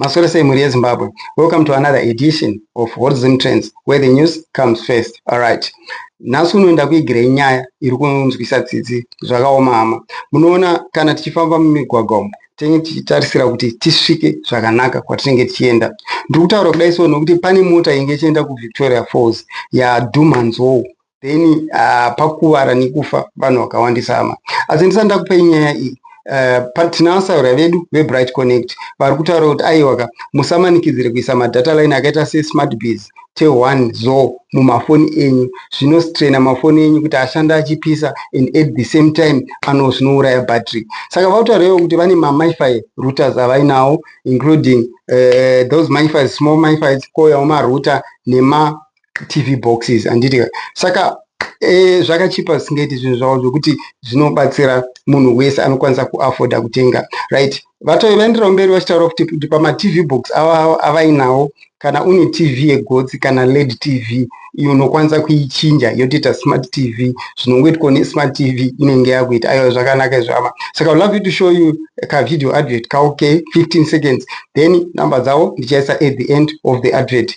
Maswera sei mhuri yeZimbabwe. Welcome to another edition of Hot Zim Trends where the news comes first. Alright. Nhasi unoenda kuigira inyaya iri kunzwisa tsitsi zvakaoma hama. Munoona kana tichifamba mumigwagwa umu tinenge tichitarisira kuti tisvike zvakanaka kwatinenge tichienda. Ndiri kutaura kudai so nokuti pane mota inge ichienda kuVictoria Falls yadhumha nzou then uh, pakuvara nekufa vanhu vakawandisa hama asi ndisati ndakupai nyaya iyi Eh, tinavatsaura vedu vebright connect vari kutaura kuti aiwaka musamanikidzire kuisa madata line akaita sesmart bas te1 zo mumafoni enyu zvinostrena mafoni enyu kuti ashanda achipisa and at the same time ano zvinouraya battery saka vakutaurawo kuti vane mamifi routers avainawo including uh, those mifis small mifis koyawo marouter nema tv boxes anditi saka e, zvakachipa zvisingaiti zvinhu zvavo zvokuti zvinobatsira munhu wese anokwanisa kuafforda kutenga right vatove vaenderawo mberi vachitaura futi kuti pamatv box ava avainawo kana une tv yegotsi kana led tv iyo unokwanisa kuichinja yotoita smart tv zvinongoitwa nesmart tv inenge yakuita aiwa zvakanaka izvama saka so, love you to show you kavideo advert kaoke 15 seconds then number dzavo ndichaisa at the end of the advert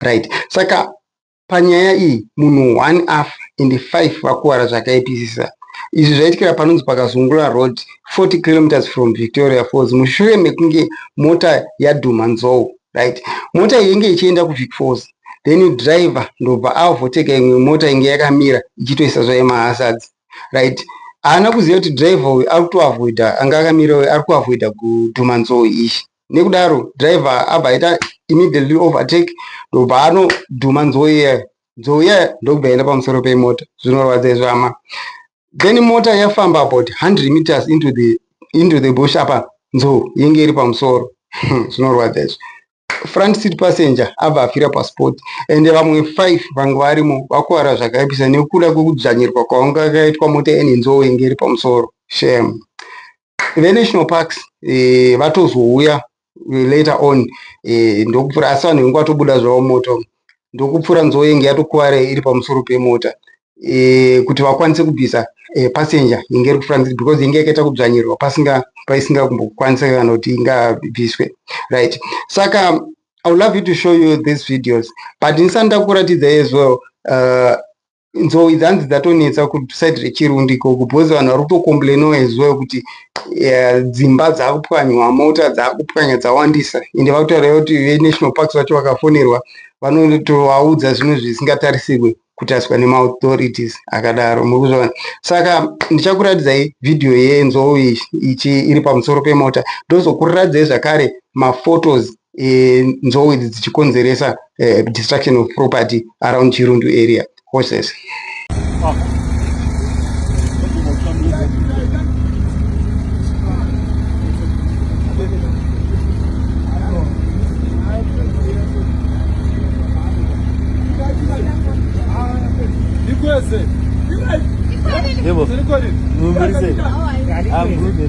right saka panyaya iyi munhu one afa and five vakuwara zvakaipisisa izvi zvaitikira panonzi pakazungula road 40 kilometers from victoria falls mushure mekunge mota yadhuma nzou right mota iyi inge ichienda kuvic falls then driver ndobva aovhoteka imwe mota inge yakamira ichitoisa zvaye mahasards right haana kuziva kuti driver uyu ari kutoavoida anga akamira uyu ari kuavoida kudhuma nzou izvi nekudaro driver abva aita immediately overtake ndobva anodhuma nzou iyayo nzou iyayo ndokubva aenda pamusoro pemota zvinorwadza izvo hama then mota yafamba about 100 meters into the, into the bush apa nzou yenge iri pamusoro zvinorwadza izvo front seat passenger abva afira pasport and vamwe five vange varimo vakuvara zvakaipisa nekuda kwekudzvanyirwa kwavanga kaitwa mota ene nzou inge iri pamusoro shem venational parks eh, vatozouya later on eh, ndokupfura asi vanhu vengu vatobuda zvavo moto ndokupfura nzou yenge yatokuvara iri pamusoro pemota e, kuti vakwanise kubvisa e, passenger yenge iri kufura nziri because yenge yakaita kudzvanyirirwa pasinga paisinga kumbokwanisa kana kuti ingabviswe right saka i would love you to show you these videos but ndisani ndakuratidza as well uh, nzou idzi hanzi dzatonetsa kusaid rechirundi ikoko because vanhu vari kutocomplainowa ezuva kuti eh, dzimba dzaakupwanywa mota dzaakupwanya dzawandisa ende vakutaura kuti venational parks vacho vakafonerwa vanotovaudza zvinhu zvisingatarisirwe kutaswa nemaauthorities akadaro muri kuzvivana saka ndichakuratidzai vhidhiyo yenzou ichi iri pamusoro pemota ndozokuratidzai zvakare maphotos e, nzou idzi dzichikonzeresa e, destruction of property around chirundu area horses Yebo. Mumulise. Ambuze.